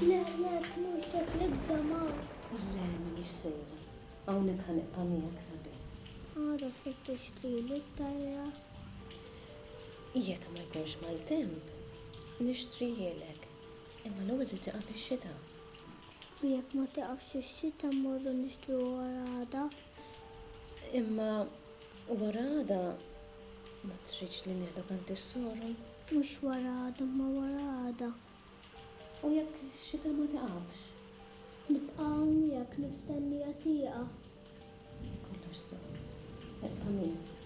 Le, le, tmur sek libża Mark. Le, m'iniex sejra. Hawnhekk ħa nibqa' miegħek sabiħ. Għada se tixtrili t-tajra. Jekk ma jkunx maltemp, nixtrihielek. Imma l-ewwel trid tieqaf ix-xita. U jekk ma tieqafx ix-xita mmorru nixtruha wara għada? Imma wara għada Ma tridx li nieħdok għand is-soro? Mhux wara għada imma wara għada. U jekk xita ma tiqafx? Nibqa' hawn miegħek mistennija tieqa. Kollox sew. Ibqa' miegħi.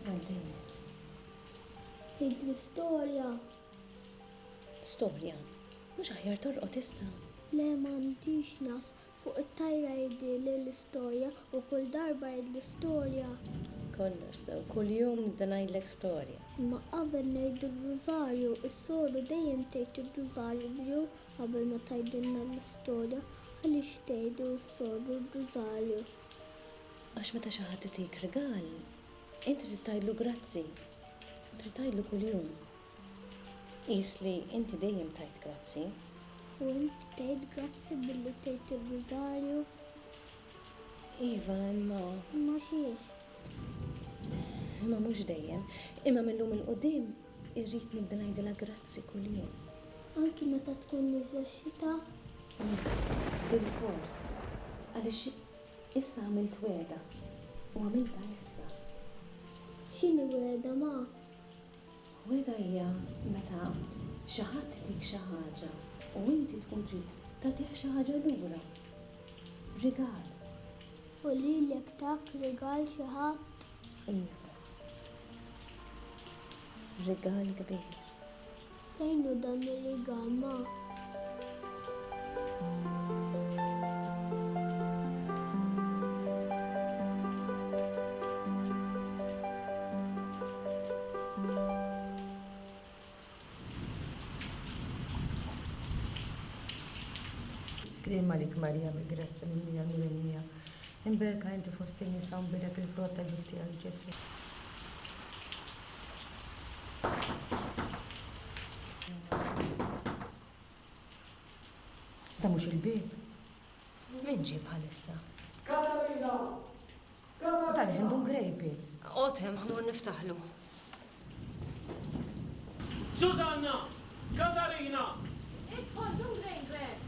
Għal dejjem. Għidli storja. Storja? Mhux aħjar torqod issa? Le m'għandix nasħ. Fuq it-tajra jidhri li l-istorja u kull darba jidhri storja. Kollox sew, kull jum nibda ngħidlek storja. Imma qabel ngħidu r-rużarju, is-soru dejjem tgħid ir-rużarju qabel ma tgħidilna l-istorja. Għaliex tgħidu s-soru r-rużarju? Għax meta xi ħadd itik rigal, int trid tgħidlu grazzi u trid tgħidlu kuljum. Qis li inti dejjem tajt grazzi. U int tgħid grazzi billi tgħid ir-Rużarju? Iva, imma. Imma x'hiex? Imma mhux dejjem. Imma mil-lum 'il quddiem irrid nibda ngħidilha grazzi kuljum. Anki meta tkun nieżla x-xita? Bilfors, għaliex issa għamilt wegħda u għamiltha issa. X'inhi wegħda, ma? Wegħda hija meta xi ħadd itik xi ħaġa u inti tkun trid tagħtih xi ħaġa lura. Rigal. U lilek tak rigal xi ħadd? Iva. Rigal kbir. Fejn hu dan ir-rigal, ma? Sliem għalik Marija mill-grazzja mimlija nur in-nija, imberka inti fost in-nisa u nbierek il-frott ta' ġuf tiegħek Ġesu'. Dan mhux il-bieb? Min ġie bħalissa? Katarina! Katarina! Dan għendu n-grejpi. Oqgħod hemm, ħa mmur niftaħlu. Susanna! Katarina! Idħol dun Grain Grant!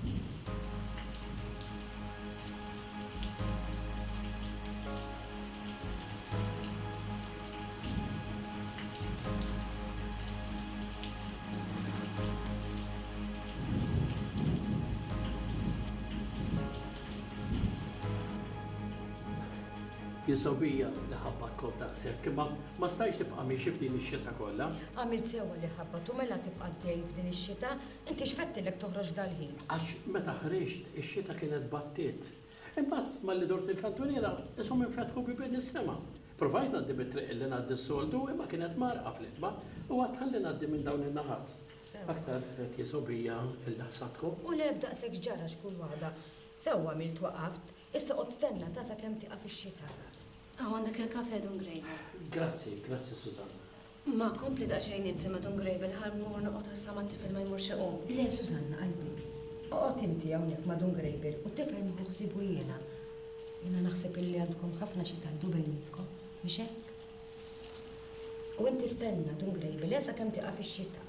Hi sobija li ħabbatkom daqshekk, imma ma stajtx tibqa' miexi f'din ix-xita kollha. Għamilt sewwa li ħabbtu mela tibqa' għaddej f'din ix-xita, inti x'fettilek toħroġ dal-ħin? Għax meta ħriġt ix-xita kienet battiet. Imbagħad malli dort il-kantuniera qishom infetħu bibien is-sema. Provajt ngħaddi mit-triq illi ngħaddi s-soltu imma kienet mgħarrqa fl-itba u għadt ħalli ngħaddi minn dawn in-naħat. Aktar qed jisob hija illi ħsabtkom. U le b'daqshekx ġara x'kull waħda. Sewwa għamilt waqaft. Issa oqgħod stenna ta' sakemm tieqaf ix-xita. Hawn għandek il-kafè, Dun Grejbel. Grazzi, grazzi Susanna. Ma, kompli daqsxejn inti ma' Dun Grejbel ħa mmur noqgħod għal sa ma' t-tifel ma jmurx iqum. Le, Susanna, qalbi. Oqgħod inti hawnhekk ma' Dun Grejbel u t-tifel nieħu ħsiebu jiena. Jiena naħseb illi għandkom ħafna xi tgħidu bejnietkom, mhix hekk? U inti stenna, Dun Grejbel, eh, sakemm tieqaf ix-xita.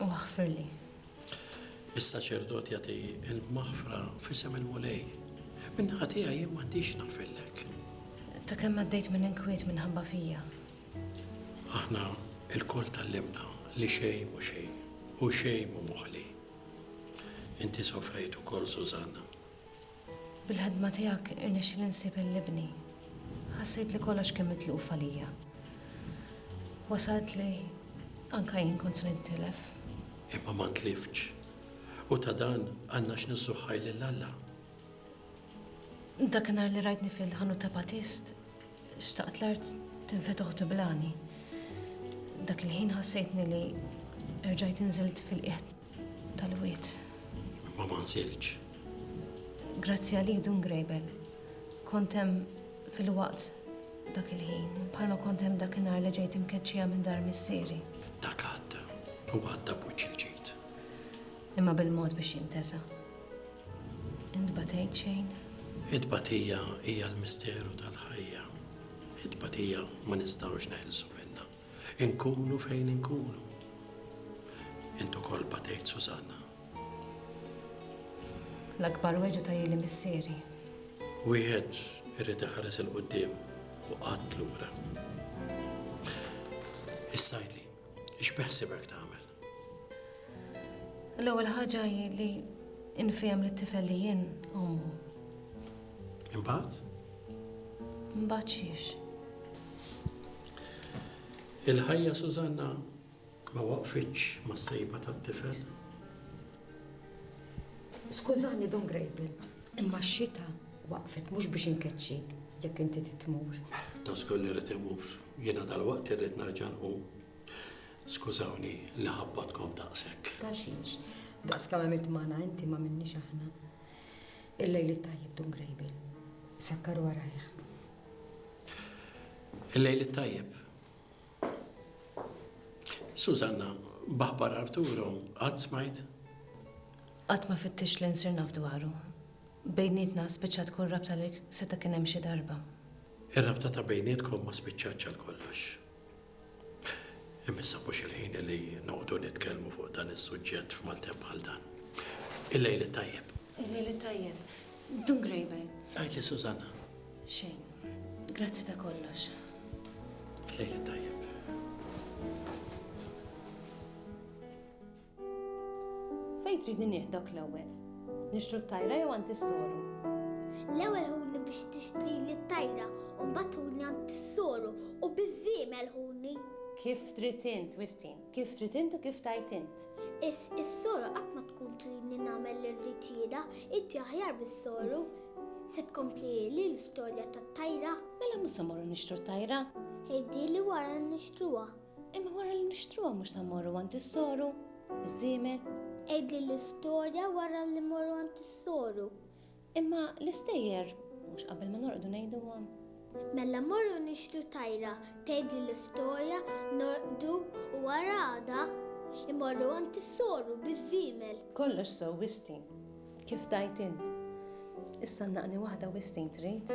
U aħfirli. Is-saċerdot jagħti l-maħfra f'isem il-Mulej. Min-naħa tiegħi jien m'għandix naħfirlek. Ta' kemm għaddejt minn inkwiet minħabba fija. Aħna il-kol tal-limna li xej mu xej u xej mu moħli. Inti sofrejt u kol Susanna. Bil-ħidma tiegħek irnexxieli nsib il ibni. Ħassejt li kollox kien mitluf għalija. Wasalt li anka jien kont se nintilef. Imma ma ntliftx. U ta' dan għandna x'nissuħħaj lil Alla. Dakinhar li rajtni fil-ħanut ta' Batist, xtaqt l-art tinfetoħ tiblani. Dak il-ħin ħassejtni li erġajt inżilt fil-qiegħ tal-wied. Ma ma nsirx. Grazzi għalik dun grejbel. Kont hemm fil-waqt dak il-ħin, bħalma kont hemm dak in-nar li ġejt imkeċċija minn dar missieri. Dak għadda, u għadda buċċi l-ġid. Imma bil-mod biex jintesa. Int batejt xejn? Id-batija hija l-misteru tal-ħajja. Id-batija ma nistgħux neħilsu minnha. Inkunu fejn inkunu. Int ukoll batejt Susanna. L-akbar weġgħa ta' jili missieri. Wieħed irid iħares 'il quddiem u qatt lura. Is-Sajli, x'beħsibek tagħmel? L-ewwel ħaġa hi li nfhem li t-tifel li jien ommu. Imbagħad? Imbagħad xiex. Il-ħajja Susanna ma waqfitx ma sejba tat-tifel. Skużani Don Grejbel, imma x-xita waqfet mhux biex inkeċċi jekk inti titmur. Ta' skolli rrid imur, jiena dal-waqt irrid nerġa' nqum. Skużawni li ħabbadkom daqshekk. Ta' xiex, daqs kemm għamilt magħna inti m'għamilniex aħna. Il-lejl it-tajjeb Dun Grejbil. Sakkar warajh. Il-lejl it-tajjeb. Susanna, b'aħbar Arturo, qatt smajt? Qatt ma fittix li nsir naf dwaru. Bejnietna spiċċat tkun rabta li seta' kien hemm xi darba. Ir-rabta ta' bejnietkom ma spiċċatx għal kollox. Imma issa mhux il-ħin li noqogħdu nitkellmu fuq dan is-suġġett f'maltemp bħal dan. Il-lejl it-tajjeb. Il-lejl it-tajjeb. Dun Grejben. Għajli Susanna. Xejn. Grazzi ta' kollox. Il-lejl it-tajjeb. Fejn tridni nieħ dok l-ewwel? Nixtru t-tajra jew għand is-soru? L-ewwel ħuni biex tixtri li t-tajra u mbagħad ħuni għand is-soru u biż-żiemel ħuni. Kif trid int, Wistin? Kif trid int u kif tajt int? Is is-soru qatt ma tkun tridni nagħmel li rrid jiena, inti aħjar bis-soru. Se tkompli li l-istorja tat-tajra? Mela mhux se morru nixtru t-tajra? Ħejdi li wara nixtruha. Imma wara li nixtruha mhux se mmorru għand is-soru, iż-żiemel. Għidli l-istorja wara li mmorru għand is-soru. Imma l-istejjer mhux qabel ma norqdu ngħiduhom. Mela morru nixtru tajra, tgħidli l-istorja, norqdu u wara għada imorru għand is-soru biż-żiemel. Kollox sew Wistin, kif tajt int. Issa naqni waħda Wistin trid?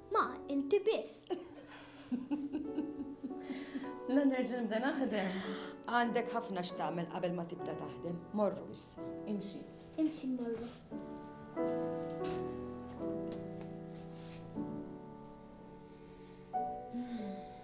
Ma, inti biss. La nerġa' nibda naħdem. Għandek ħafna x'tagħmel qabel ma tibda taħdem. Morru issa. Imxi. Imxi morru.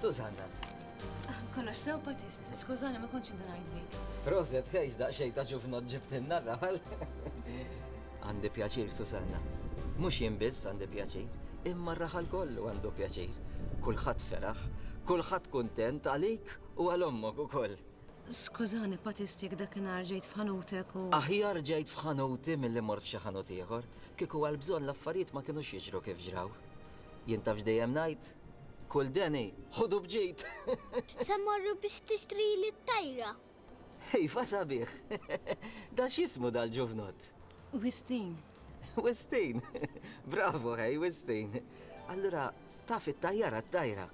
Susanna. Ah, kollox sew patist, skużani ma kontx indunajt bik. Proset, ħejx daqxej ta' ġufnot ġibtinna raħal. Għandi pjaċir, Susanna. Mux jien biss għandi pjaċir, imma raħal kollu għandu pjaċir. Kulħadd feraħ, kulħadd kuntent għalik u għal ommok ukoll. Skużani, Patist, jekk dakinhar ġejt f'ħanutek u. Aħjar ġejt f'ħanuti milli mort f'xi ħanut ieħor. Kieku għal bżonn l-affarijiet ma kinux jiġru kif ġraw. Jien taf x'dejjem ngħid? Kull deni, ħudu b'ġid! Se mmorru biex tixtrili t-tajra? Iva sabiħ! Dan x'jismu dal-ġuvnott? Wistin, Wistin! Bravo, ħej, Wistin! Allura, taf it-tajjara t-tajra?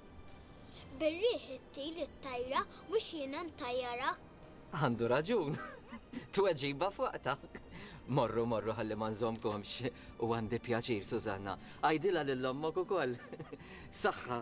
Bir-riħ ittir it-tajra mhux jiena ntajjarha. Għandu raġun. Tweġiba f'waqtha. Morru, morru ħalli ma nżommkomx u għandi pjaċir, Susanna. Għidilha lil ommok ukoll. Saħħa!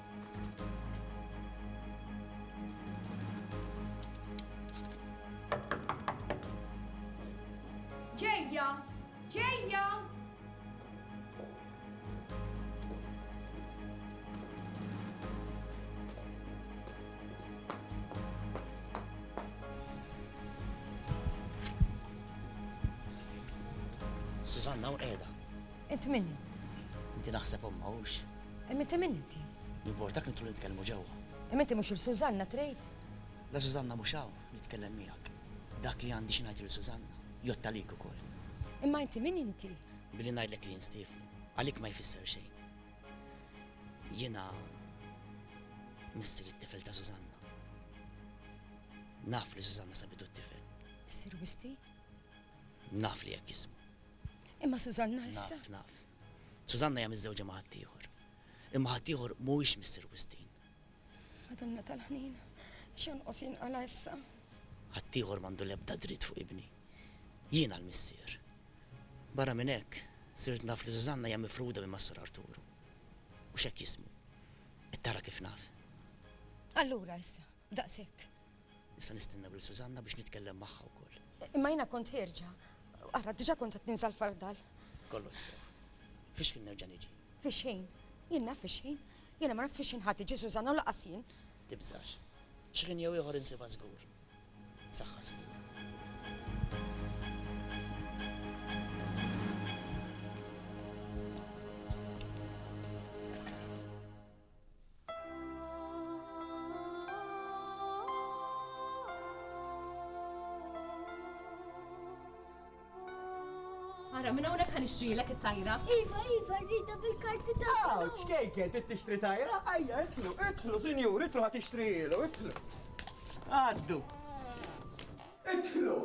Ġejja! Ġejja! Susanna u qiegħda. Int minni? Inti naħseb omma hux. Imma inti min inti? Jimportak nidħlu nitkellmu ġewwa? Imma inti mhux lil Sużanna trid? La Sużanna mhux hawn, nitkellem miegħek. Dak li għandi xi ngħid lil Sużanna, jgħodd għalik ukoll. Imma inti min inti? Billi ngħidlek li jien Stiefnu, għalik ma jfisser xejn. Jiena missier it-tifel ta' Sużanna. Naf li Sużanna sabitu t-tifel. Issir Wisti? Naf li hekk jismu. Imma Sużanna issa? Naf, naf. Sużanna hija miżżewġa ma' ħaddieħor, imma ħaddieħor mhuwiex Mister Wistin. Madonna tal-ħniena, x'jonqos jinqala' issa? Ħaddieħor m'għandu l-ebda dritt fuq ibni. Jiena l-missier. Barra minn hekk, sirt naf li Sużanna hija mifruda minn Massur Arturu. Mhux hekk jismu. Qed tara kif naf. Allura issa, daqshekk. Issa nistennew lil Susanna biex nitkellem magħha wkoll. Imma jiena kont ħierġa. Ara, diġà kont qed ninsa l-fardal. Kollox sew. Fix-xħin nerġa' niġi. Fix-xħin? Jien naf fix-xħin. Jiena ma naf fix-xħin ħa tiġi Susanna u lanqas jien. Tibżax. Xħin jew ieħor insibha żgur. Saħħa signur. Ara, minn hawnhekk ħan ixtrilek it-tajra. Iva, iva, rrida bil-karti ta' Aw, ċkejken, trid tixtri tajra? Ajja, itlu, itlu, sinjur, itlu ħad tixtrilu, itlu. Għaddu. Itlu,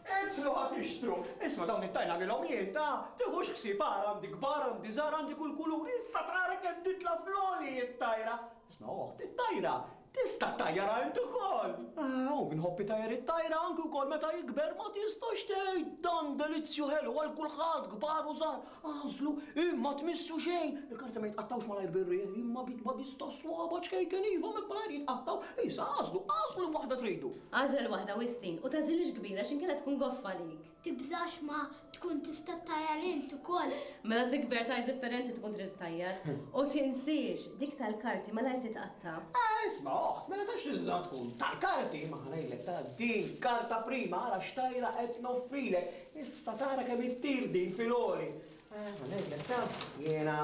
Idħlu ħa tixtru! Isma' dawn it-tajn għamilhom jien, ta! Tiħux ħsieb agħar għandi kbar, għandi żgħar, għandi kull kulur, issa tara kemm titla' fl-għoli it-tajra! Isma' oħt, it-tajra! Tista' ttajjarha int ukoll! Ah, u min iħobb itajjar it-tajra anki wkoll meta jikber ma tistax tgħid! Dan delizzju ħelu għal kulħadd, kbar u żgħar, Agħżlu, imma tmissu xejn! Il-karti ma jitqattgħux malajr bir-riħ, imma b'itba biss tas-swaba' ċkejken iva, m'hekk malajr jitqattgħu! Issa agħżlu, agħżlu liema waħda tridu! Agħżel waħda, Wistin, u tagħżilhiex kbira x'inkella tkun goffa għalik! Tibżax ma tkun tista' ttajjar int ukoll! Meta tikber tgħid differenti tkun trid ttajjar! U tinsiex, dik tal-karti malajr titqatta'! Ah, isma', oħt, mela ta' x'inża tkun? Tal-karti? Imma ħa ngħidlek, ta' din, karta prima, ara x'tajra qed noffrilek! Issa tara kemm ittir din fil-għoli! Ara ngħidlek taf, jiena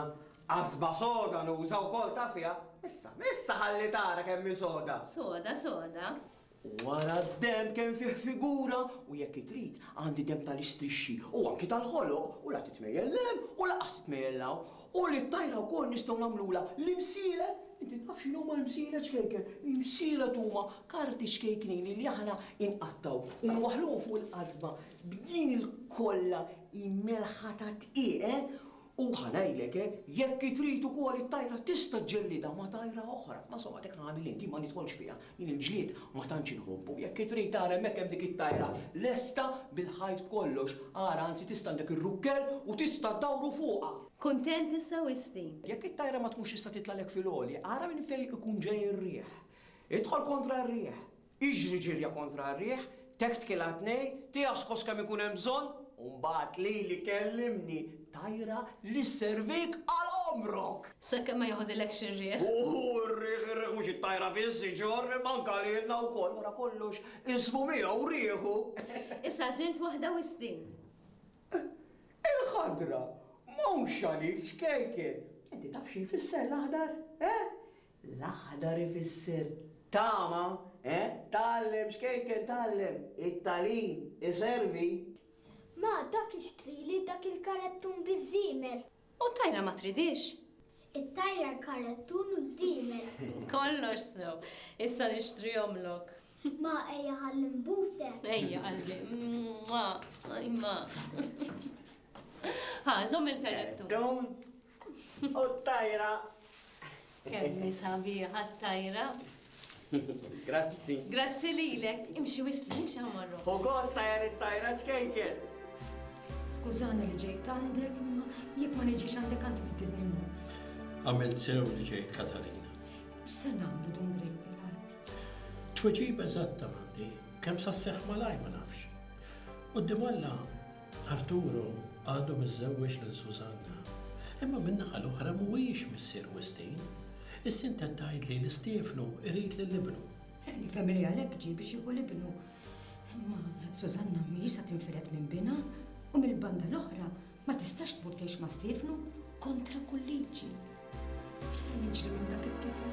qasba soda nuża wkoll taf fiha. Issa, issa ħalli tara kemm hi soda! Soda, soda. U ara d-demb kemm fih figura u jekk itrid għandi demb tal-istrixxi u anki tal-ħoloq u la titmejjel 'l hemm u laqas titmejjel 'l hawn. U lit-tajra wkoll nistgħu nagħmlulha l-imsielet, inti taf x'inhuma l-imsielet ċkejken? L-imsielet huma karti ċkejknin li aħna inqattgħu u nwaħħluhom fuq il-qasba b'din il-kolla immelħa tad-dqiq, eh! U ħa ngħidlek, eh, jekk trid ukoll it-tajra tista' ġġellidha ma' tajra oħra, ma' somgħa dik tagħmel int, jien ma nidħolx fiha. Jien il-ġlied ma tantx inħobbu, jekk trid ara hemmhekk hemm dik it-tajra lesta bil-ħajt b'kollox, ara anzi tista' għandek ir-rukkel u tista' ddawru fuqha! Kuntent issa wisti! Jekk it-tajra ma tkunx tista' titlagħlek fil-għoli, ara minn fejn ikun ġej ir-riħ. Idħol kontra r-riħ! Iġri ġirja kontra r-riħ! Teħt kilha tnej, tijaskos kemm ikun hemm bżonn, u mbagħad lili kellimni tajra li sservik għal għomrok! Sakemm ma joħdilekx ir-riħ. Uhu, ir-riħ, ir-riħ mhux it-tajra biss iġorr imma anke lilna wkoll. Wara kollox, ismu miegħu u riħu! Issa għażilt waħda wistin. Il-ħadra mhux għalik, ċkejken! Inti taf xi jfisser l-aħdar? Eh? L-aħdar ifisser tama, eh? Tgħallem xkejken tgħallem, it-tagħlim iservi. Ma dak ixtrili dak il-karettun biż-żiemel. U t-tajra ma tridhiex? It-tajra l-karettun u ż-żiemel. Kollox sew. Issa nixtrihomlok. Ma ejja ħalli nbusek. Ejja qalbi. Mwah, ajma. Ħa, żomm il-karettun. Karettun U t-tajra. Kemm sabiħa t-tajra. Grazzi. Grazzi lilek. Imxi wistri, imxi ħamorru. U kosta jar it-tajra ċkejker. Skużani li ġejt għandek, ma jekk ma niġix għandek għand biddilni mmur. Għamilt sew li ġejt Katarina. X'se nagħmlu dun grejbi l-art? Tweġib eżatta m'għandi, kemm sa seħħ malaj ma nafx. Qudiem Alla Arturo għadu miżżewweġ lil Susanna, imma min-naħa l-oħra mhuwiex missier Wistin. Is-sintet tgħidli li Stiefnu jrid lil ibnu. Nifhem li għalhekk ġie biex jieħu l-ibnu. Imma Susanna mhijiex se tinfired minn binha u mill-banda l-oħra ma tistax tmur tgħix ma' Stiefnu kontra kull liġi. X'se jiġri minn dak it-tifel?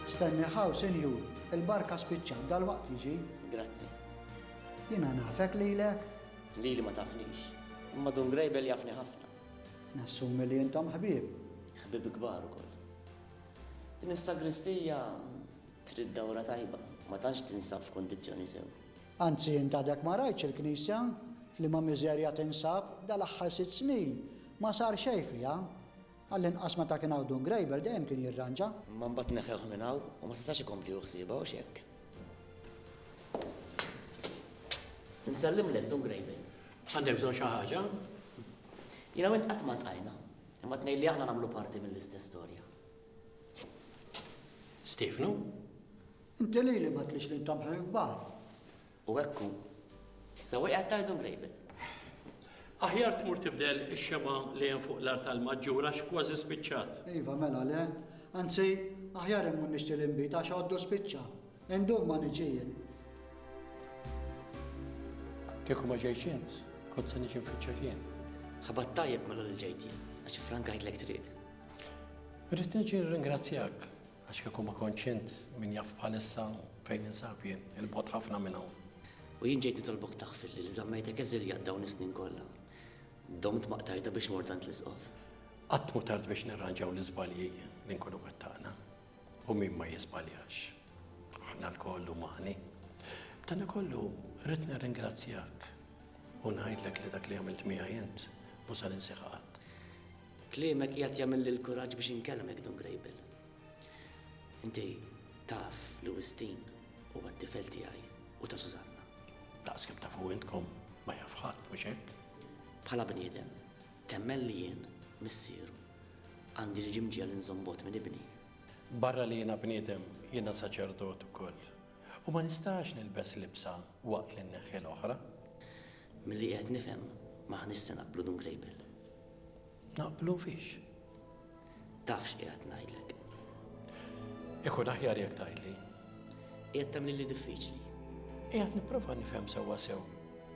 Stenni hawn, sinjur, il-barka spiċċat, dalwaqt jiġi. Grazzi. Jiena nafek lilek? Lili ma tafnix, imma Dun Grejbel jafni ħafna. Nassumi li intom ħbieb. Ħbieb kbar ukoll. Din is-sagristija trid dawra tajba, ma tantx tinsab f'kundizzjoni sew. Anzi int għadek ma rajtx il-knisja f'liema miżerja tinsab dal-aħħar sitt snin, ma sar xejn fiha. Għall-inqas meta kien hawn Dun Grejber dejjem kien jirranġa. Imma mbagħad neħħewh minn hawn u ma setax ikompli hu ħsiebha, hux hekk? Insellimlek, Dun Grejber. Għandek bżonn xi ħaġa? Jiena u int qatt ma ltqajna. Imma tnejn li aħna nagħmlu parti mill-istess storja. Stefnu? Inti li li ma tlix li ntamħu jibbar. U ekku, sewa jgħat tajdu mrejbel. Aħjar tmur tibdel ix-xema li hemm fuq l-art tal-maġġura x'kważi spiċċat. Iva, mela le, anzi, aħjar immun nixti l-imbita xoddu spiċċa. Indum ma niġi jien. Kieku ma ġejtx int, kont se niġi nfittxek jien. Ħabat tajjeb mela li ġejt jien, għax frankajtlek triq. Rrid niġi ringrazzjak għax kieku ma kontx int min jaf bħalissa fejn insab jien, il-bot ħafna minn hawn. U jien ġejt nitolbok taħfir li żammejtek eżiljat dawn is-snin kollha. Domt maqtarda biex mordant l-isqof. Qatt mu tard biex nirranġaw l-iżbalji li nkunu wettaqna. U min ma jiżbaljax? Aħna lkoll umani. B'danakollu, rrid nirringrazzjak u ngħidlek li dak li għamilt miegħi int mhu se ninsih qatt. Kliemek qiegħed jagħmilli l-kuraġġ biex inkellmek, Dun Grejbil. Inti taf li Wistin huwa t-tifel tiegħi u ta' Sużanna. Daqs kemm tafu intkom, ma jaf ħadd, mhux hekk? Bħala bniedem, Temmen li jien, missieru, għandi niġi mġiegħel inżomm bogħod minn ibni? Barra li jiena bniedem, jiena saċerdot ukoll, u ma nistax nilbes libsa waqt li nneħħi l-oħra. Milli qiegħed nifhem, m'aħniex se naqblu, Dun Grejbiel. Naqblu fiex? Taf x'qiegħed ngħidlek. Ikun aħjar jekk tgħidli. Qiegħed tagħmlilli diffiċli. Qiegħed nipprova nifhem sewwa sew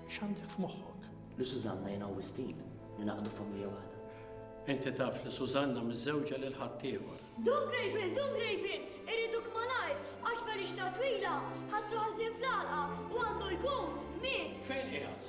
x'għandek f'moħħok. Li Susanna jiena u Wistin ningħaqdu familja waħda. Inti taf li Susanna miżżewġa lil ħaddieħor. Dun grejbin, dun grejbin, iriduk malajr, għax ferixta twila, ħassu ħażin fl-għalqa, u għandu jkun, miet. Fejn qiegħed?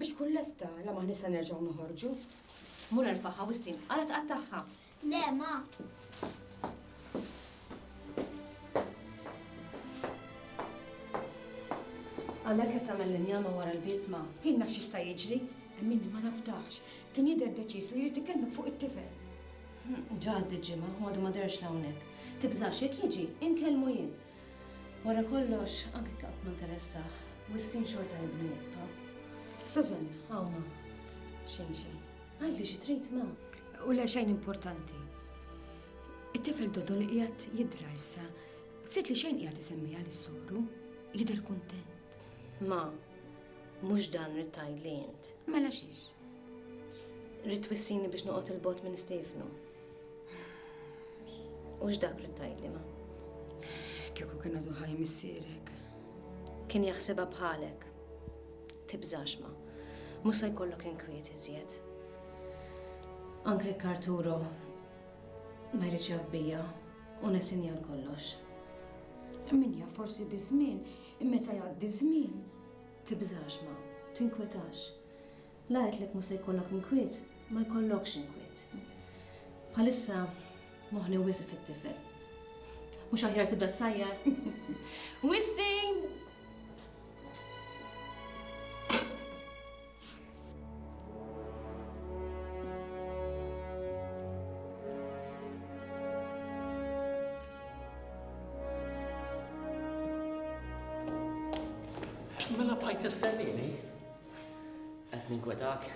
Biex tkun lesta, la m'aħniex se nerġgħu noħorġu. Mur erfagħha wistien, ara tqattagħha. Le, ma. Għalhekk qed tagħmel l-injama wara l-bieb ma. Jien naf x'jista' jiġri, hemm minni ma nafdax. Kien jidher deċiż li jrid ikellmek fuq it-tifel. Ġa għaddiet ġimgħa, u għadu ma derx l-hawnhekk. Tibżax jekk jiġi, inkellmu jien. Wara kollox, anke jekk qatt ma nteressah, Wistin xorta ibnu jibqa'. Susan, hawn ma. Xejn xejn. Għidli xi trid, ma. U le xejn importanti. It-tifel Dodo li qiegħed jidra issa, ftit li xejn qiegħed isemmiha lis soru, jidher kuntent. Ma, mhux dan rrid tgħidli int. Mela xiex? Rrid twissini biex noqgħod il-bot minn Stefnu. U x'dak li tgħidli ma? Kieku kien għadu ħaj missierek. Kien jaħsibha bħalek. Tibżax ma. Mhux se jkollok inkwiet iżjed. Anke Karturo ma jridx jaf bija u nesinja kollox. Min jaf forsi biż-żmien, meta jgħaddi żmien. Tibżax ma, tinkwetax. La għedtlek mhu se jkollok inkwiet, ma jkollokx inkwiet. Bħalissa moħħni wisq fit-tifel. Mhux aħjar tibda tsajjar. Wistin! Mela bqajt tistennini? Qed ninkwetak?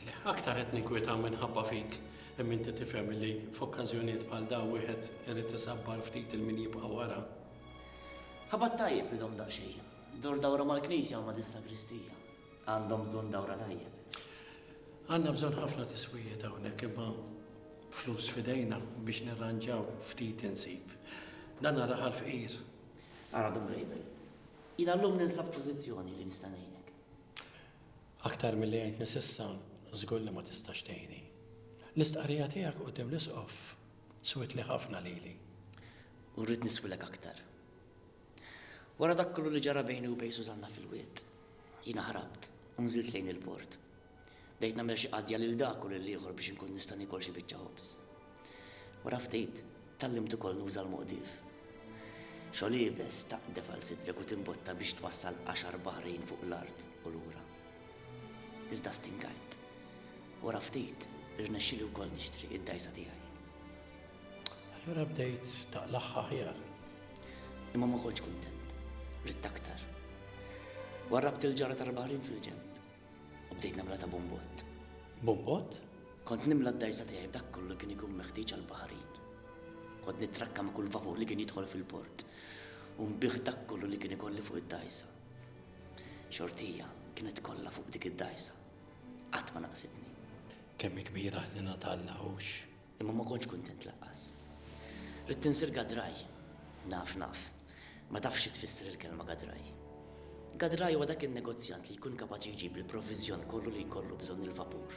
Le, aktar qed ninkweta minħabba fik. Hemm inti tifhem li f'okkażjonijiet bħal daw wieħed irid isabbar ftit il-min jibqa' wara. Ħabat tajjeb bidhom daqsxejn. Dur dawra mal-knisja u ma' dis-sagristija. Għandhom bżonn dawra tajjeb. Għandna bżonn ħafna tiswijiet hawnhekk imma flus fidejna biex nirranġaw ftit insib. Dan raħal fqir. Ara dum label. Jiena llum ninsab f'pożizzjoni li nista' ngħinek. Aktar milli għintni s'issa, żgur li ma tistax tgħinni. L-istqarrija tiegħek quddiem l-Isqof swietli ħafna lili. U rrid niswilek aktar. Wara dak kollu li ġara bejni u bejn Sużanna fil-Wied, jiena ħrabt u nżilt lejn il-port. Bdejt nagħmel xi qadja lil dak u lill-ieħor biex inkun nista' niekol xi biċċa ħobż. Wara ftit, tgħallimt ukoll nuża l-moqdif. Xogħol iebes taqdef għal sidrek u timbotta biex twassal għaxar baħrin fuq l-art u lura. Iżda stingajt. Wara ftit, irnexxieli wkoll nixtri id-dgħajsa tiegħi. Allura bdejt taqlagħha aħjar. Imma ma kontx kuntent. Ridt aktar. Warrabt il-ġara tal-baħrin fil-ġenb. U bdejt nagħmilha ta' bumbott. Bumbott? Kont nimla d-dgħajsa tiegħi b'dak kollu li kien ikun meħtieġ għall-baħrin. Kont nittrakka ma' kull vapur li kien jidħol fil-port u nbigħ dak kollu li kien ikolli fuq id-dgħajsa. Xortija kienet kollha fuq dik id-dgħajsa. Qatt ma naqsitni. Kemm hi kbira ħniena t'Alla, hux? Imma ma kontx kuntent lanqas. Ridt insir gadraj. Naf, naf. Ma tafx xi tfisser il-kelma gadraj. Gadraj huwa dak in-negozjant li jkun kapaċi jġib il-provviżjon kollu li jkollu bżonn il-vapur.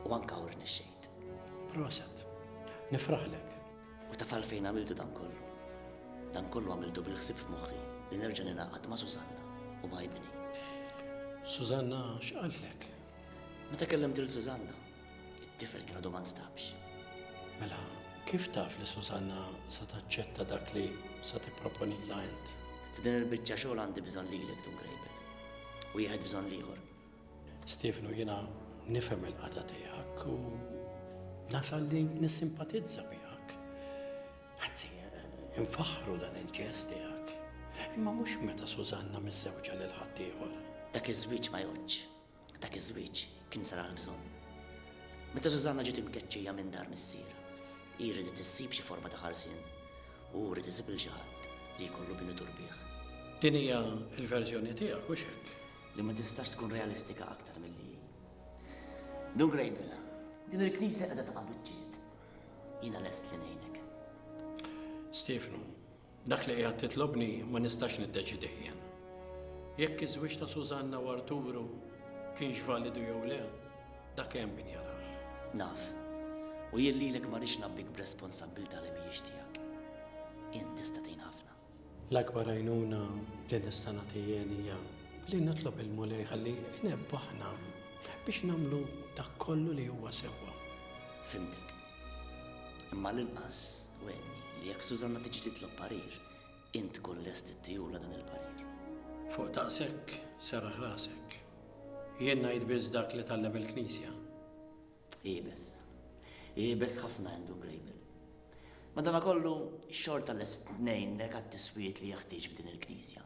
U anke hawn rnexxejt. Proset. Nifraħlek. U taf għalfejn għamiltu dan kollu? Dan kollu għamiltu bil-ħsieb f'moħħi li nerġa' ningħaqad ma' Susanna u ma' ibni. Susanna x'qaltlek? Meta kellimt lil Susanna, It-tifel kien għadu ma nstabx. Mela, kif taf li Susanna sa taċċetta dak li sa tipproponilha int? F'din il-biċċa xogħol għandi bżonn lilek Dun Grejbel. U jieħed bżonn l-ieħor. Stefnu, jiena nifhem il-qata tiegħek u nasal li nissimpatizza miegħek. Anzi, infaħru dan il-ġest tiegħek. Imma mhux meta Susanna miż-żewġa lil ħaddieħor. Dak iż-żwieġ ma jgħodx. Dak iż-żwieġ kien sar għall-bżonn. Meta Susanna ġiet imkeċċija minn dar missierha, hi riedet issib xi forma ta' ħarsien u hu ried isib 'il xi ħadd li jkollu min idur bih. Din hija l-verżjoni tiegħek, hux hekk? Li ma tistax tkun realistika aktar milli hi. Dun Grejbel, din il-Knisja qiegħda taqa' biċċiet. Jiena lest li ngħinek. Stiefnu, Dak li qiegħed titlobni ma nistax niddeċidih jien. Jekk iż-żwieġ ta' Susanna u Arturu kienx validu jew le, dak hemm min jarah. Naf. U jien lilek ma rridx ngħabbik b'responsabbiltà li mhijiex tiegħek. Int tista' tgħin ħafna. L-akbar għajnuna li nista' nagħti jien hija li nitlob il-Mulej ħalli inebbħna biex nagħmlu dak kollu li huwa sewwa. Fhimtek. Imma għall-inqas wegħdni li jekk Susanna tiġi titlob parir, int tkun lest ittihulha dan il-parir. Fuq daqshekk, serraħ rasek. Jien ngħid biss dak li tgħallem il-Knisja. Iebes. Iebes ħafna Andrew Grable. Madanakollu, xorta lest ngħinek għat-tiswijiet li jeħtieġ f'din il-Knisja.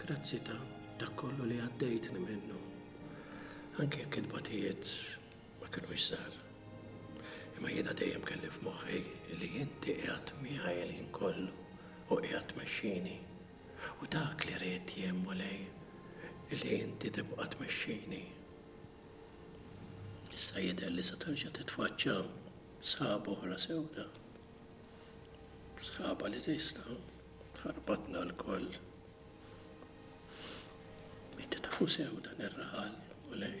Grazzi ta' dak kollu li għaddejtni minnu, anke jekk il-batijiet ma kinux żgħar. Imma jiena dejjem kelli f'moħħi li inti qiegħed miegħi l-ħin kollu u qiegħed tmexxini. U dak li ridt jien, Mulej, li inti tibqa' tmexxini. Issa jidher li se terġa' titfaċċa sħaba oħra sewda. Sħaba li tista' Ħarbatna lkoll. Inti tafu sew dan ir-raħal u lej.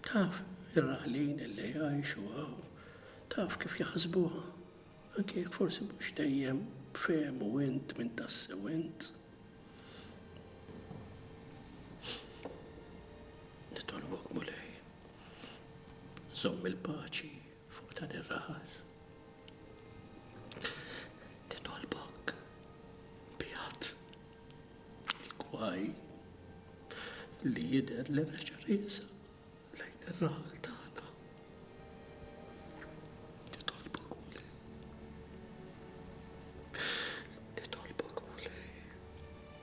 Taf ir-raħlin li jgħixu għaw. Taf kif jaħsbuha. Anke jekk forsi mhux dejjem fehmu int minn tassew int. Nitolbok mulej. Żomm il-paċi Fuq dan ir-raħas nitolbok bi għadd il-kwaj li jidher li reġa' riesa lejn ir-raħal tagħna. Nitolbok mulej. Nitolbok mulej.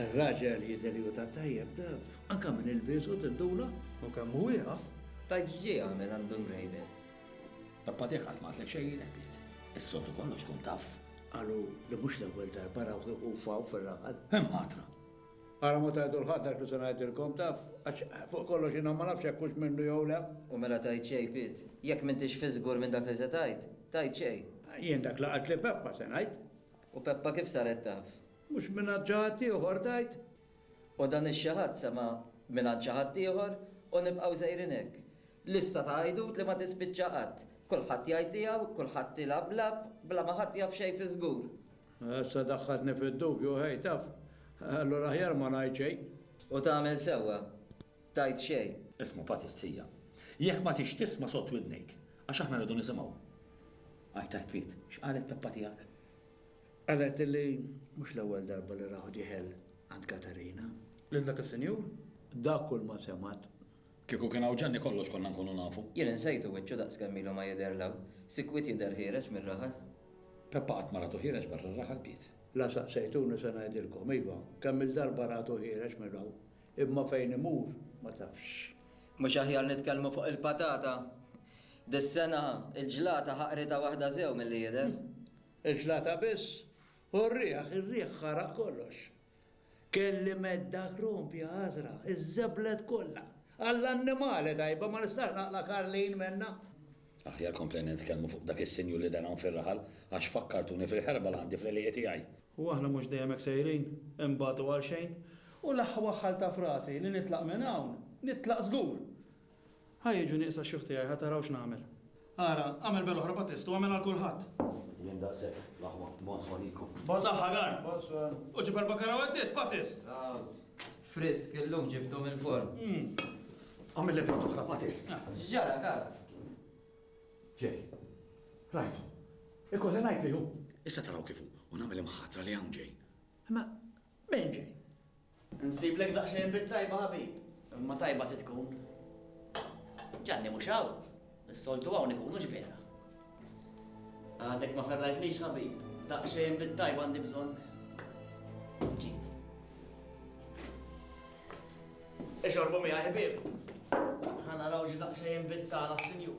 Ir-raġel jidher li ta' tajjeb taf, anka minn il-bisu tiddula u kemm hu jaf. Tajt x'ġie għamel għandu ngrejbel. Pappa tiegħek qatt ma għatlek xejn jilebit. Is-soltu kollox tkun taf. Qalu li mhux l-ewwel darba rawh iqufaw fir-raħal. Hemm ħatra. Ara ma tgħidu l-ħadd għax mhux se ngħidilkom, taf, għax fuq kollox jiena ma nafx jekk hux minnu jew le. U mela tgħid xejn, Piet? Jekk m'intix fiżgur minn dak li se tgħid, tgħid xejn? Jien dak li qaltli Peppa se ngħid. U Peppa kif saret taf? Mhux mingħand xi ħadd ieħor, tgħid? U dan ix-xi ħadd sema' mingħand xi ħadd ieħor u nibqgħu sejrin hekk. Lista ta' għajdut li ma tispiċċa qatt. Kulħadd jgħid tiegħu, kulħadd ilgħab lagħab bla ma ħadd jaf xejn fiżgur. Issa daħħaltni fid-dubju, ħej, taf, allura aħjar ma ngħid xejn. U tagħmel sewwa, tgħid xejn. Isma' Patty Stħija, jekk ma tridx tisma' sod widnejk, għax aħna rridu nisimgħu. Għidt għidt twiet, x'qalet Peppa tiegħek? Qalet li mhux l-ewwel darba li rahu dieħel għand Katarina. Lil dak is-sinjur? Dak kulma semgħet. Kieku kien hawn Ġanni kollox konna nkunu nafu. Jien insejtu wiċċu daqs kemm ilu ma jidher l-hawn. Sikwit jidher ħiereġ mir-raħal. Peppa qatt ma ratu ħiereġ barra r-raħal biet. La saqsejtuni se ngħidilkom. Iva, kemm-il darba ratu ħiereġ mir-hawn. Imma fejn imur ma tafx. Mhux aħjar nitkellmu fuq il-patata? Dis-sena l-ġlata ħaqritha waħda sew milli jidher. Il-ġlata biss? U r-riħ? Ir-riħ ħaraq kollox. Kelli medda krompja ħadra, iżżeblet kollha. Għall-annimali tajba, ma nistax naqla' Karlin minnha. Aħjar komplejna nitkellmu fuq dak is-sinjur li dar hawn fir-raħal, għax fakkartuni fil-ħerba li għandi fl-għelieqi tiegħi. U aħna mhux dejjem hekk sejrin, inbatu għalxejn. U l-aħħa waħħalt f'rasi li nitlaq minn hawn, nitlaq żgur. Ħa jiġu nieqsa x-xjuħ tiegħi, ħa taraw x'nagħmel. Ara, agħmel bel oħra bħat test u agħmel għal kulħadd. Jien daqshekk, l-aħwa, bonsoir lilkom. B'saħħa, Gar. Bonsoir. U ġib erba' karawettiet bħat test. Frisk, illum ġibtu mill-forn. Agħmel l-ebra oħra bħat test. X'ġara, Gar? Ġej. Rajtu. Ikolli ngħid li hu. Issa taraw kif hu u nagħmel imħatra li hawn ġej. Imma Benji, Insiblek daqsxejn bint tajba ħabib, imma tajba trid tkun. Ġanni mhux hawn, is-soltu hawn ikunu x'vera. Għadek ma ferrajtlix ħabib, daqsxejn bint tajba għandi bżonn. Ġi. Ixorbu miegħi ħbieb. Ħa naraw x'daqsxejn bint tagħna s-sinjur.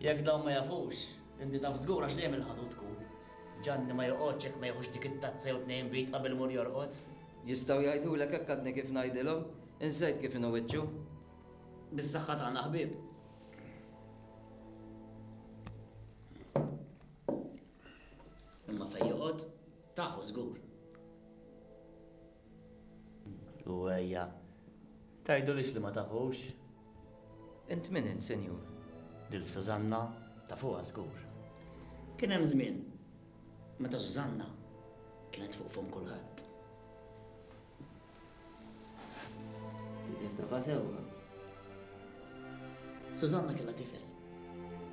Jekk dawn ma jafux, inti taf żgur għax dejjem il-ħalu tkun. Ġanni ma joqgħodx jekk ma jieħux dik it-tazza jew tnejn bid qabel imur jorqod. Jistgħu jgħidulek hekk għadni kif ngħidilhom. Insejt kif inhu wiċċu. Bis-saħħa tagħna ħbieb. Imma fejn joqgħod, tafu żgur. U ejja, tgħidulix li ma tafux. Int min int, sinjur? Lil Sużanna tafuha żgur. Kien hemm żmien meta Sużanna kienet fuq fom kulħadd. Tidher tafa sewwa. Sużanna kellha tifel.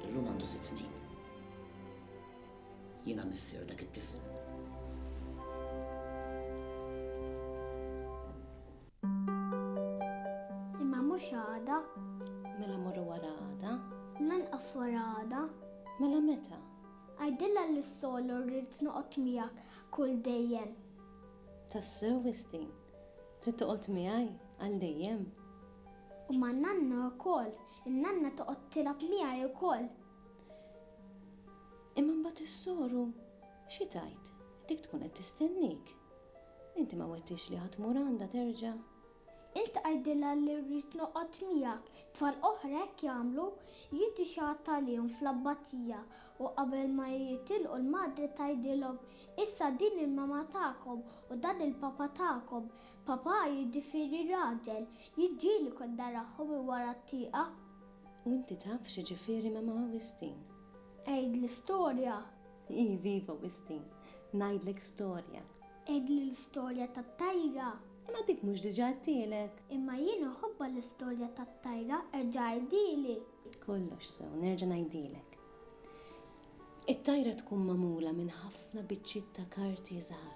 Illum għandu sitt snin. Jiena missier dak it-tifel. Imma mhux għada. Mela morru wara għada. Lanqas wara għada. Mela meta? Għajdilha li s-solo rrid noqgħod miegħek kull dejjem. Tassew Istin, trid toqgħod miegħi għal dejjem. U man-nanna wkoll, in-nanna toqgħod tilgħab miegħi wkoll. Imma mbagħad is-soru xi tgħid? Dik tkun qed tistennik. Inti ma wettix li ħa tmur għandha terġa'? Int għidilha li rrid noqgħod miegħek. Tfal oħra hekk jagħmlu, jrid ixgħatt għalihom fl-abbatija u qabel ma jitilqu l-madre tgħidilhom, Issa din il-mama tagħkom u dan il-papa tagħkom. Papa jiġifieri raġel, jiġġieli kont narahom minn wara t-tieqa. U inti taf x'jiġifieri Mama Wistin? Għidli storja! Iviva Wistin! Ngħidlek storja! Għidli l-istorja tat-tajra! Imma dik mhux diġà għedtilek! Imma jien inħobbha l-istorja tat-tajra, erġa' għidhieli! Kollox sew, nerġa' ngħidhielek. It-tajra tkun magħmula minn ħafna biċċiet ta' karti żgħar.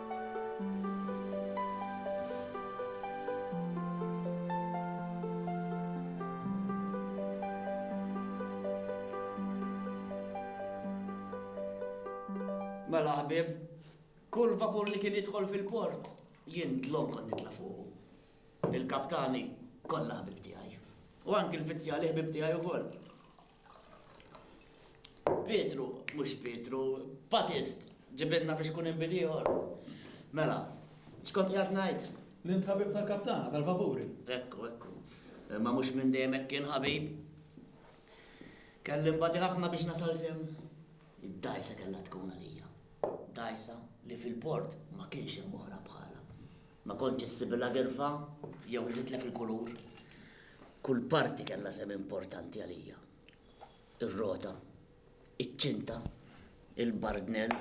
Mela ħbieb, kull vapur li kien jidħol fil-port, jien dlom kont nitla' fuqu. Il-kaptani kollha ħbib tiegħi. U anki l-fizzjali ħbib tiegħi wkoll. Pietru, mhux Pietru, Batist, ġibidna biex kun inbid ieħor. Mela, xkont qiegħed ngħid? Li int ħabib tal-kaptana tal-vapuri. Ekku, ekku. Ma mhux minn dejjem hekk kien ħabib. Kelli mbagħad ħafna biex nasal sem. Id-dajsa kellha tkun għalija. Dajsa li fil-port ma kienx hemm oħra bħalha. Ma kontx issibilha girfa jew li titlef il-kulur. Kull parti kellha sehem importanti għalija. Ir-rota, iċ-ċinta, il-bardnell,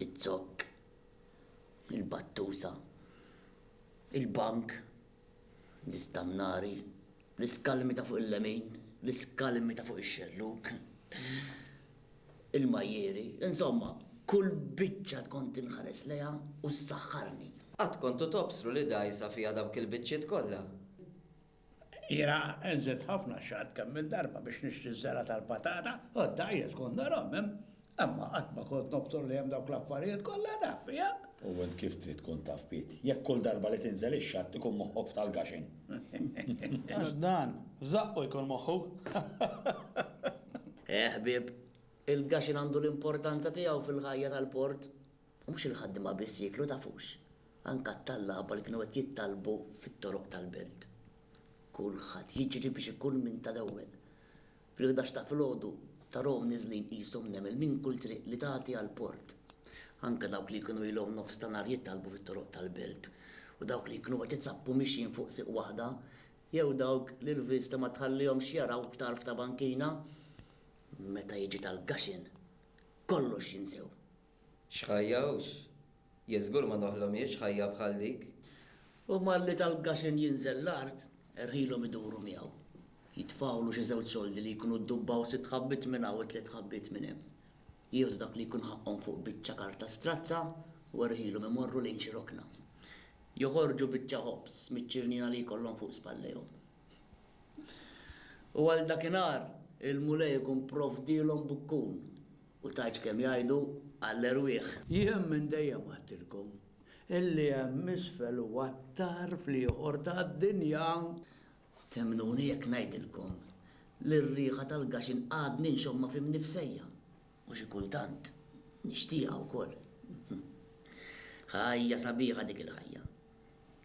iz-zokk, il-battusa, il-bank, l-istannari, L-iskalmi ta' fuq il-lemin, l-iskalmi ta' fuq ix-xellug, il-majjieri, insomma, kull biċċa tkont inħares lejha u ssaħħarni. Qatt kontu tobsru li dgħajsa fiha dawk il-biċċiet kollha? Jiena nżidt ħafna xatt kemm-il darba biex nixtri ż-żergħa tal-patata u d-dgħajjes kont narahom hemm Imma qatt ma kont nobtor li hemm dawk l-affarijiet kollha taf fiha. U int kif trid tkun taf Piet, jekk kull darba li tinżel ix-xatt ikun moħħok f'tal-gaxin? Għax dan, f'żaqqu jkun moħħu. Eh ħbieb, il-gaxin għandu l-importanza tiegħu fil-ħajja tal-port. U mhux il-ħaddiema biss jieklu tafux, anke t-tallaba li kienu qed jittalbu fit-toroq tal-belt. Kulħadd jiġri biex ikun minn tal-ewwel. Fil-ħdax ta' filgħodu ta' Rom niżlin qishom nemel minn kull triq li tagħti għall-port. Anke dawk li kienu ilhom nofs ta' nhar jittalbu fit-toroq tal-belt, u dawk li kienu qed itzappu mixjin fuq sieq waħda, jew dawk li l-vista ma tħallihomx jaraw tarf ta' bankina, meta jiġi tal-gaxin kollox jinsew. X'ħajja hux! Jee żgur ma noħlomiex ħajja bħal dik! U malli tal-Gaxen jinżel l-art, erħilhom iduru miegħu. Jitfgħulu xi żewġ soldi li jkunu ddubbaw sitt ħabbiet minn hawn u tliet ħabbiet minn hemm. Jieħdu dak li jkun ħaqqhom fuq biċċa karta strazza u erħilhom imorru lejn xi rokna. Joħorġu biċċa ħobż miċ-ċirniena li jkollhom fuq spallejhom. U għal dakinhar, il-Mulej ikun provdielhom bukkun U tgħidx kemm jgħidu għall-erwieħ. Jien minn dejjem għedtilkom, illi hemm isfel u attar fl-ieħor tad-dinja. Temmnuni jekk ngħidilkom li r-riħa tal-gaxin għadni nxommha fi mnifsejja, u xi kultant nixtieqha wkoll. Ħajja sabiħa dik il-ħajja.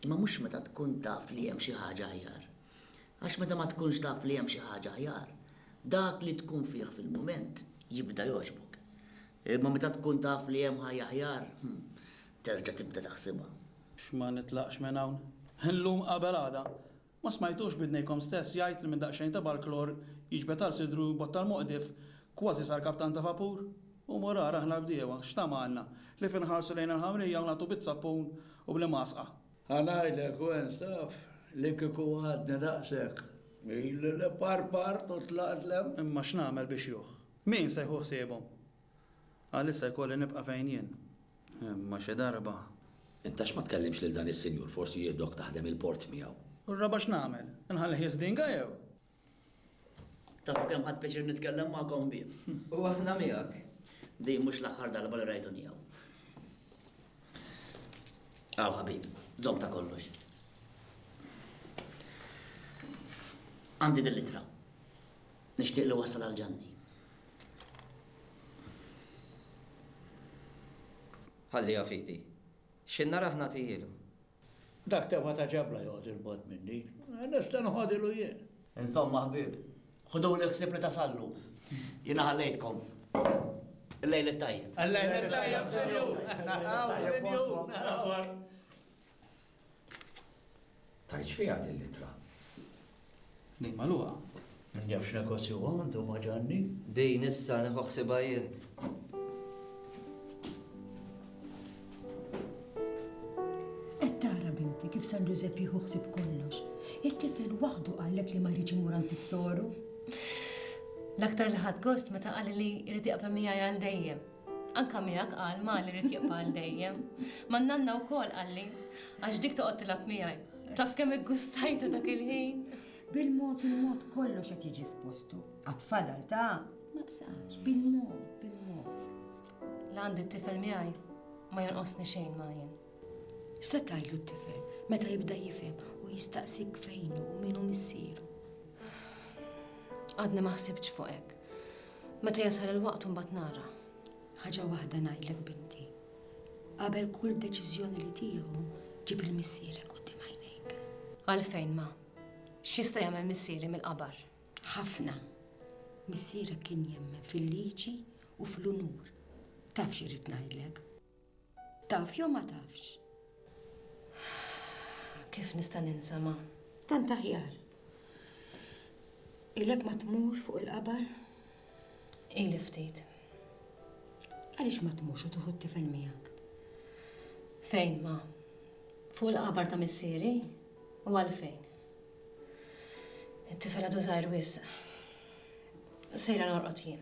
Imma mhux meta tkun taf li hemm xi ħaġa aħjar. Għax meta ma tkunx taf li hemm xi ħaġa aħjar, dak li tkun fih fil-mument jibda jogħġbok. Imma meta tkun taf li hemm ħajja aħjar, terġa' tibda taħsibha. X'ma nitlaqx minn hawn. Illum qabel għada. Ma smajtux b'idnejkom stess jgħid li minn daqsxejn ta' balklor jiġbed għal sidru jbottal moqdif, kważi sar kaptan ta' vapur? U mur ara aħna l-bdiewa, x'tama għandna? Li f'inħarsu lejn il-ħamrija u nagħtu biż-żappun u bl-imgħasqa? Ħa ngħidlek u insaf li kieku għadni daqshekk, ili li parpart u tlaqt 'l hemm. Imma x'nagħmel biex juh? Min se jħu ħsiebhom? Għalissa jkolli nibqa' fejn jien. Imma xi darba. Int għax ma tkellimx lil dan is-sinjur forsi jieħdok taħdem il-port miegħu? U r-raba' x'nagħmel? Inħallih jiżdinga jew? Tafu kemm ħadt pjaċir nitkellem magħkom bih. U aħna miegħek. Din mhux l-aħħar darba li rajtuni hawn. Hawn ħabib, żomm ta' kollox. Għandi din l-ittra. Nixtieq li wassal għal Ġanni. Ħalliha f'idi. X'inna rah nagħtihielu. Dak tebgħa ta' ġabla joqgħod 'il bogħod minni. Nista' noħodilu jien. Insomma ħbieb, ħuduli ħsieb li tasallu. Jiena ħallejtkom. Il-lejl it-tajjeb. Il-lejl it-tajjeb, Sinjur. Naraw, Sinjur. Naraw. Tajt x'fiha din l-ittra? Din magħluqa. Naf x'negozju għandu ma' Ġanni. Din issa nieħu ħsibha jien. Qed tara binti kif San Ġużepp jieħu ħsieb kollox. It-tifel waħdu qallek li ma jridx imur għand is-soru. L-aktar li ħadd gost meta qali li jrid jaqbel miegħi għal dejjem. Anka miegħek qal ma li rid jibqa' għal dejjem. Man-nanna wkoll qalli, għax dik toqgħod tilgħab miegħi. Taf kemm iggustajtu dak il-ħin! Bil-mod il-mod kollox qed jiġi f'postu. Għad fadal ta' ma bsax, bil-mod, bil-mod. La għandi t-tifel miegħi ma jonqosni xejn ma jien. X'se tgħidlu t-tifel meta jibda jifhem u jistaqsik fejnu u minu missieru? Għadni ma ħsibx fuq hekk. Meta jasal il-waqt imbagħad nara. Ħaġa waħda ngħidlek binti, qabel kull deċiżjoni li tieħu ġib lil missierek quddiem għajnejk. Għalfejn, ma? X'jista' jagħmel missieri mill-qabar? Ħafna. Missierek kien jemmen fil-liġi u fl-unur. Taf xi rrid ngħidlek? Taf jew ma tafx? Kif nista' ninsa ma? Tant aħjar. Ilek ma tmur fuq il-qabar? Ili ftit. Għaliex ma tmurx u tuħu t-tifel miegħek? Fejn ma? Fuq il-qabar ta' missieri? U għalfejn? It-tifel għadu żgħir wisq. Sejra norqod jien.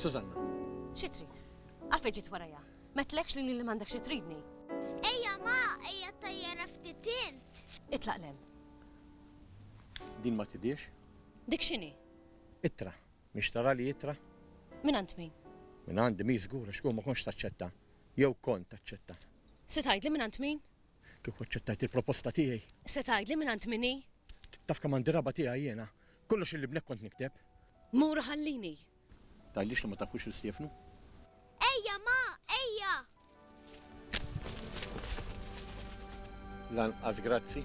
Susanna. Xi trid? Għalfejn ġiet warajja? Metlekx li li m'għandek xi tridni. Ejja ma, ejja tajjara ftit int. Itlaq lem. Din ma tidiex? Dik x'inhi? Ittra. Mhix tara li ittra? Min għand min? Min għandi mi żgur għax ma kontx taċċetta. Jew kont taċċetta. Se tgħidli min għand min? Kieku aċċettajt il-proposta tiegħi. Se tgħidli mingħand min hi? Taf kemm għandi raba' tiegħi jiena. Kollox lil ibnek kont nikteb. Mur u ħallini. Tgħidlix li ma tafux lil Stiefnu? Ejja, ma, ejja! Lanqas grazzi.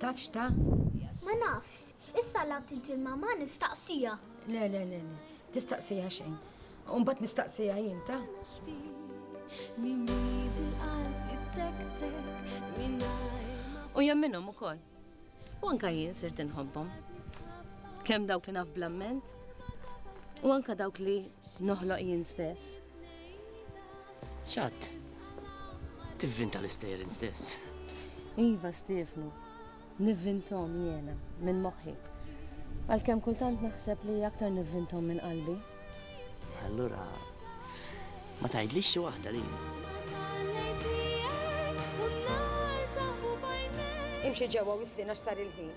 Taf x'ta? Ma nafx. Issa l-għadd il-ġimgħa ma nistaqsiha. Le, le, le, le. Tistaqsiha xejn. U mbagħad nistaqsiha jien ta? U jemminhom ukoll. U anka jien sirt inħobbhom. Kemm dawk li naf bl-amment, u anka dawk li Noħloq jien stess. X'għadd? Tivvinta l-istejjer stess. Iva, Stiefnu. Nivvinthom jiena, minn moħħi. Għalkemm kultant naħseb li aktar nivvinthom minn qalbi. Allura, ma tgħidlix xi waħda li. Imxi ġewwa u istiena x'sar il-ħin.